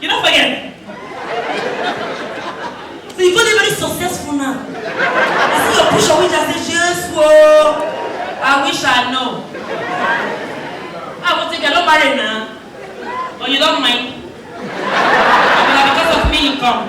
You don't forget. so you go dey very successful now. I see your picture which I say, Jesus, whoa. I wish I know. I will take a no marry now. Or you don't mind. Because of me you come.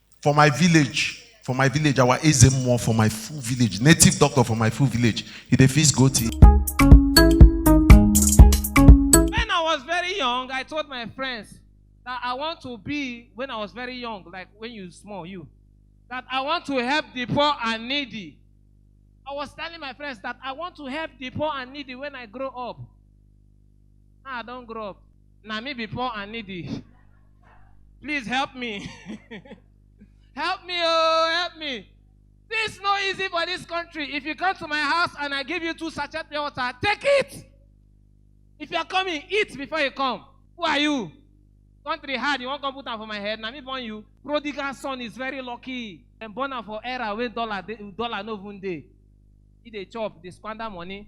for my village for my village our eze mmụọ for my full village native doctor for my full village he dey fix goat he When I was very young, I told my friends that I want to be, when I was very young, like when you small, you, that I want to help the poor and needy. I was telling my friends that I want to help the poor and needy when I grow up. Now I don't grow up. na me be poor and needy please help me help me oh help me this no easy for this country if you come to my house and i give you two sachet pure water take it if you are coming eat before you come who are you country hard you wan come put am for my head na me born you prodigal son is very lucky dem born am for era wey dollar dey dollar no even dey he dey chop dey squander money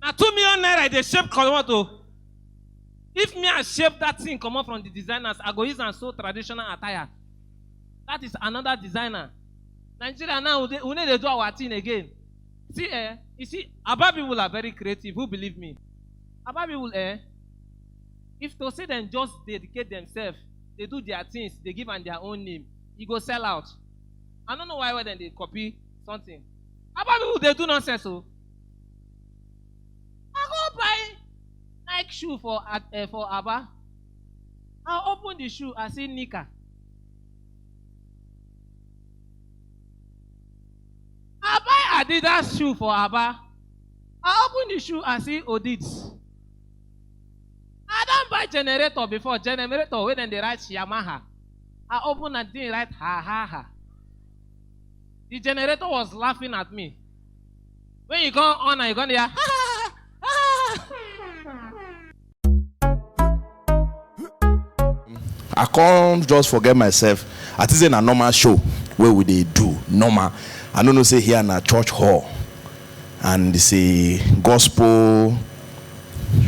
na two million naira e dey shape comot o if me i shape that thing comot from the designers i go use am sew traditional attire that is another designer nigeria now we dey- we no dey do our thing again see eh you see aba people are very creative who believe me aba people eh if to say dem just dedicate themselves dey do their things dey give am their own name e go sell out i no know why why dem dey copy something aba people dey do nonsense o I go buy Nike shoe for at um for Aba. I open the shoe, I see knicker. I buy Adidas shoe for Aba. I open the shoe, I see Odids. I don buy generator before, generator wey dem dey write Yamaha. I open am, thing write ha ha ha. The generator was laughing at me. When you come on and you come there, i come just forget myself i think say na normal show wey we dey do normal i no know say here na church hall and it's a gospel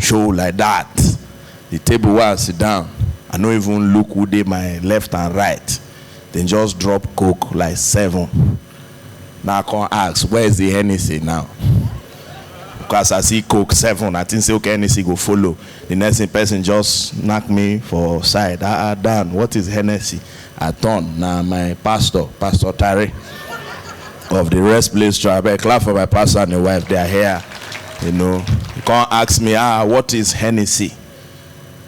show like that the table where i sit down i no even look who dey my left and right dem just drop coke like seven Na come ask where is the Hennessy now because as I see coke seven I think say okay Hennessy go follow the next thing person just knack me for side ah ah Dan what is Hennessy I turn na my pastor pastor Tare of the rest place church abeg clap for my pastor and him wife they are here you know he come ask me ah what is Hennessy.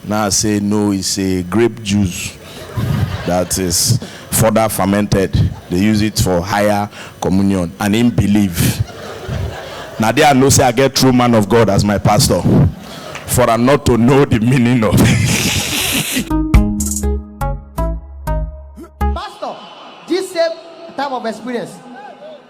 Nah say no is a grape juice that is further fermented they use it for higher communion and him believe na there I know say I get true man of God as my pastor for am not to know the meaning of Pastor, this same type of experience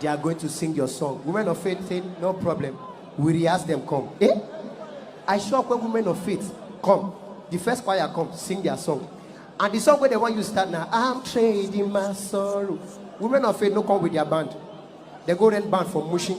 They are going to sing your song. Women of faith say, no problem. We rehearse them, come. Eh? I sure when women of faith come, the first choir come, sing their song. And the song where they want you start now, I'm trading my sorrow. Women of faith no come with their band. They go rent band for Mushin.